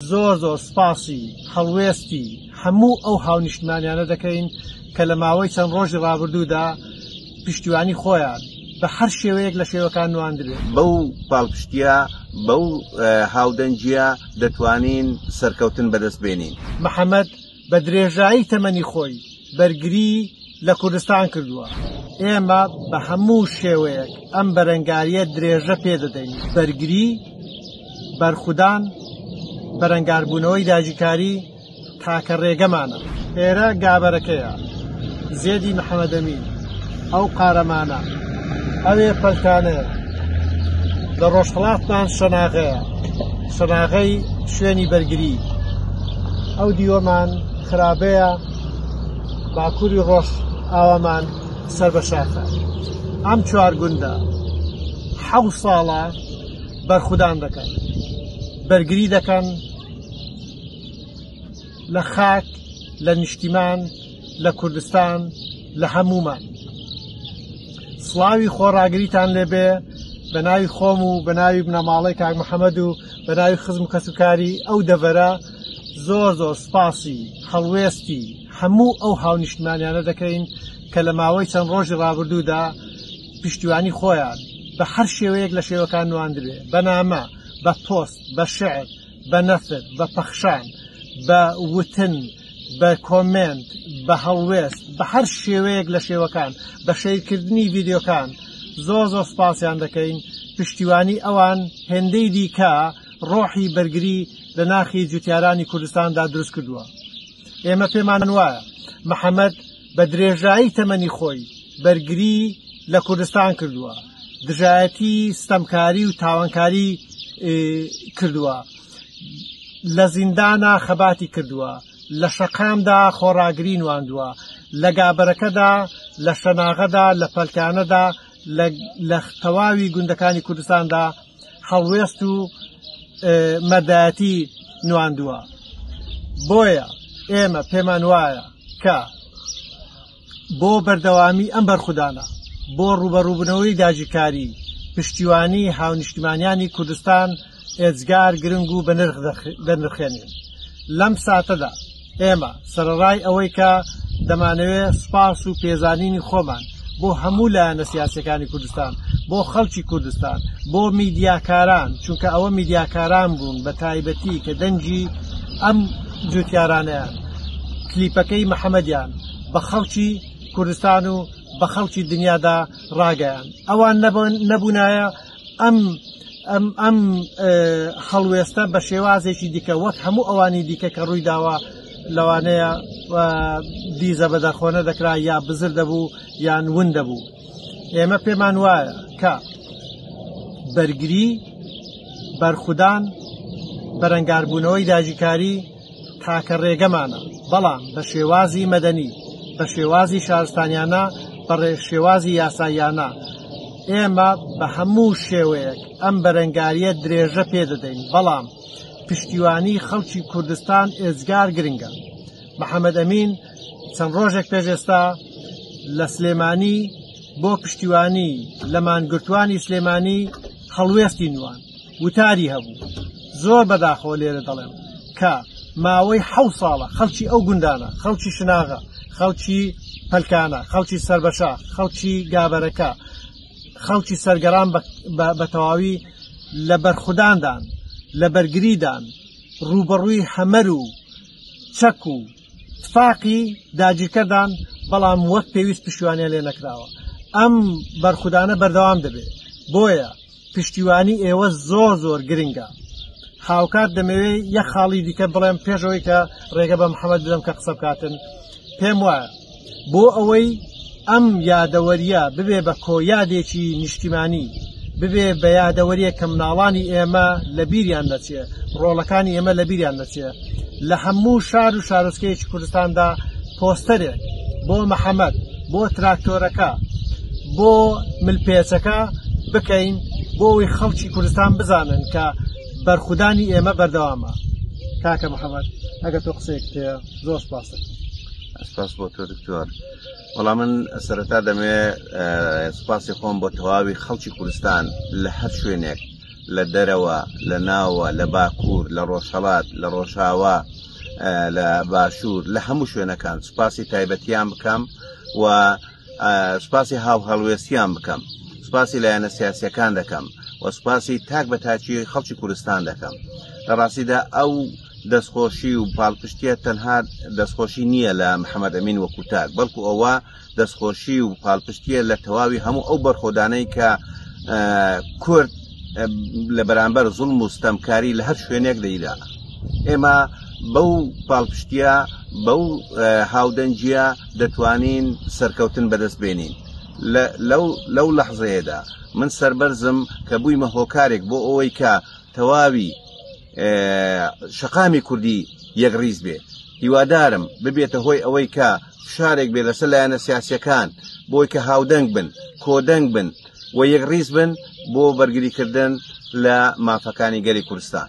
زۆر زۆر سپاسی هەڵوێستی هەموو ئەو هاونیشتمانیانە دەکەین کە لە ماوەی چەند ڕۆژی ڕابردوودا پشتیوانی خۆیان بە هەر شێوەیەک لە شێوەکان نواندرێت بەو پاڵپشتە بەو هاودەنگیە دەتوانین سەرکەوتن بەدەست بێنین محەممەد بە درێژایی تەمەنی خۆی بەرگری لە کوردستان کردووە. ئێمە بە هەموو شێوەیەک ئەم بەرەنگارییە درێژە پێ دەدەین، بەرگری، بەرخودان، بەرەنگاربوونەوەی داگیرکاری تاکە ڕێگەمانە. ئێرە گابەرەکەیە. زێدی محمد امین ئەو قارەمانە ئەوێ پەلکانەیە لە ڕۆژهڵاتمان شەناغەیە شەناغەی شوێنی بەرگری ئەو دیوەمان خراپەیە باکووری ڕۆژ ئاوامان سەر بە شاخە ئەم چوار گوندە حەو ساڵە بەرخودان دەکەن بەرگری دەکەن لە خاک لە نیشتیمان لە کوردستان لە هەموومان سڵاوی خۆڕاگریتان لێبێ بە ناوی خۆم و بە ناوی بنەماڵی کاک محەممەد و بە ناوی خزم و کەسوکاری ئەو دەڤەرە زۆر زۆر سپاسی هەڵوێستی هەموو ئەو هاونیشتمانیانە دەکەین کە لە ماوەی چەند ڕۆژی ڕابردوودا پشتیوانی خۆیان بە هەر شێوەیەک لە شێوەکان نواندبێ بەنامە بە پۆست بە شعر بە نەفت، بە پەخشان، بە وتن، بە کۆمێنت، بە هەڵوێست، بە هەر شێوەیەک لە شێوەکان، بە شەیرکردنی ڤیدیۆکان زۆر زۆر سوپاسیان دەکەین، پشتیوانی ئەوان هێندەی دیکە ڕۆحی بەرگری لە ناخی جوتیارانی کوردستاندا دروست کردووە. ئێمە پێمان وایە محەمەد بە درێژایی تەمەنی خۆی بەرگری لە کوردستان کردووە، دژایەتی ستەمکاری و تاوانکاری کردووە، لە زیندانا خەباتی کردووە، لە شەقامدا خۆڕاگری نواندووە، لە گابەرەکەدا، لە شەناغەدا، لە پەلکانەدا، لە لە تەواوی گوندەکانی کوردستاندا هەڵوێست و مەدایەتی نواندووە بۆیە ئێمە پێمان وایە کە بۆ بەردەوامی ئەم بەرخودانە بۆ ڕوبەڕووبنەوەی داجیکاری پشتیوانی هاونیشتمانیانی کوردستان ئێجگار گرنگ و بەنرخ دەنرخێنین لەم ساتەدا ئێمە سەرەڕای ئەوەی کە دەمانەوێت سوپاس و پێزانینی خۆمان بۆ هەموو لایەنە سیاسیەکانی کوردستان بۆ خەڵکی کوردستان بۆ میدیاکاران چونکە ئەوە میدیاکاران بوون بە تایبەتی کە دەنگی ئەم جوتیارانەیان کلیپەکەی محەممەدیان بە خەڵکی کوردستان و بە خەڵکی دنیادا ڕاگەیان ئەوان نەبوونایە ئەم ئەم ئەم هەڵوێستە بە شێوازێکی دیکە وەک هەموو ئەوانی دیکە کە ڕووی داوە لەوانەیە دیزە بە دەرخۆنە دەکرا یا بزر دەبوو یان ون دەبوو ئێمە پێمان وایە کە بەرگری بەرخودان بەرەنگاربوونەوەی داژیکاری تاکە رێگەمانە، بەڵام بە شێوازی مەدەنی، بە شێوازی شارستانیانە، بە شێوازی یاساییانە. ئێمە بە هەموو شێوەیەک ئەم بەرەنگارییە درێژە پێ دەدەین، بەڵام پشتیوانی خەڵکی کوردستان ئێجگار گرنگە. محەمەد ئەمین چەند رۆژێک پێش ئێستا لە سلێمانی بۆ پشتیوانی لە مانگرتووانی سلێمانی هەڵوێستی نواند. وتاری هەبوو، زۆر بەداخەوە لێرە دەڵێم کە ماوەی حەوت ساڵە خەڵکی ئەو گوندانە، خەڵکی شناغە، خەڵکی پەلکانە، خەڵکی سەربەشاخ، خەڵکی گابەرەکە، خەڵکی سەرگەران بە تەواوی لە بەرخوداندان، لە بەرگریدان، ڕووبەڕووی هەمەر و چەک و تفاقی داگیرکەردان، بەڵام وەک پێویست پشتیوانیان لێ نەکراوە. ئەم بەرخودانە بەردەوام دەبێت. بۆیە پشتیوانی ئێوە زۆر زۆر گرنگە. هاوکات دەمەوێت یەک خاڵی دیکە بڵێم پێش ئەوەی کە ڕێگە بە محەممەد بدەم کە قسە بکاتن پێم وایە بۆ ئەوەی ئەم یادەوەریە ببێ بە کۆیادێکی نیشتیمانی ببێ بە یادەوەریە کە مناڵانی ئێمە لە بیریان نەچێ ڕۆڵەکانی ئێمە لە بیریان نەچێ لە هەموو شار و شارۆچکەیەکی کوردستاندا پۆستەرێک بۆ محەممەد بۆ تراکتۆرەکە بۆ ملپێچەکە بکەین بۆ ئەوی خەڵکی کوردستان بزانن کە بەرخودانی ئێمە بەردەوامە کاکە محەممەد ئەگە تۆ قسەیەک پێ زۆر پاسە سپاس بۆ تۆ دکتۆر وەڵا من سەرەتا دەمێ سپاسی خۆم بۆ تەواوی خەڵکی کوردستان لە هەر شوێنێک لە دەرەوە لە ناوە لە باکوور لە ڕۆژهڵات لە ڕۆژاوا لە باشوور لە هەموو شوێنەکان سپاسی تایبەتیان بکەم و سپاسی هاو هەڵوێستیان بکەم سپاسی لایەنە سیاسەکان دەکەم و سپاسی تاک بە تاچی خەڵکی کوردستان دەکەم لە ڕاستیدا ئەو دەستخۆشی و پاڵپشتیە تەنها دەستخۆشی نییە لە محەممەد ئەمین وەکو تاک بەڵکو ئەوە دەستخۆشی و پاڵپشتیە لە تەواوی هەموو ئەو بەرخۆدانەی کە کورد لە بەرامبەر زوڵ مستەمکاری لە هەر شوێنێک دەیدا ئێمە بەو پاڵپشتیە بەو هاودەنجە دەتوانین سەرکەوتن بەدەست بێنین لەو لەحزەیەدا من سربەرزم کە بوویمە هۆکارێک بۆ ئەوەی کە تەواوی شەقامی کوردی یەکڕیز بێ هیوادارم ببێتە هۆی ئەوەی کە فشارێک بێ لەسەر لایەنە سیاسەکان بۆی کە هاودەنگ بن کۆدەنگ بن و یەکڕیز بن بۆ بەرگریکردن لە مافەکانی گەلی کوردستان.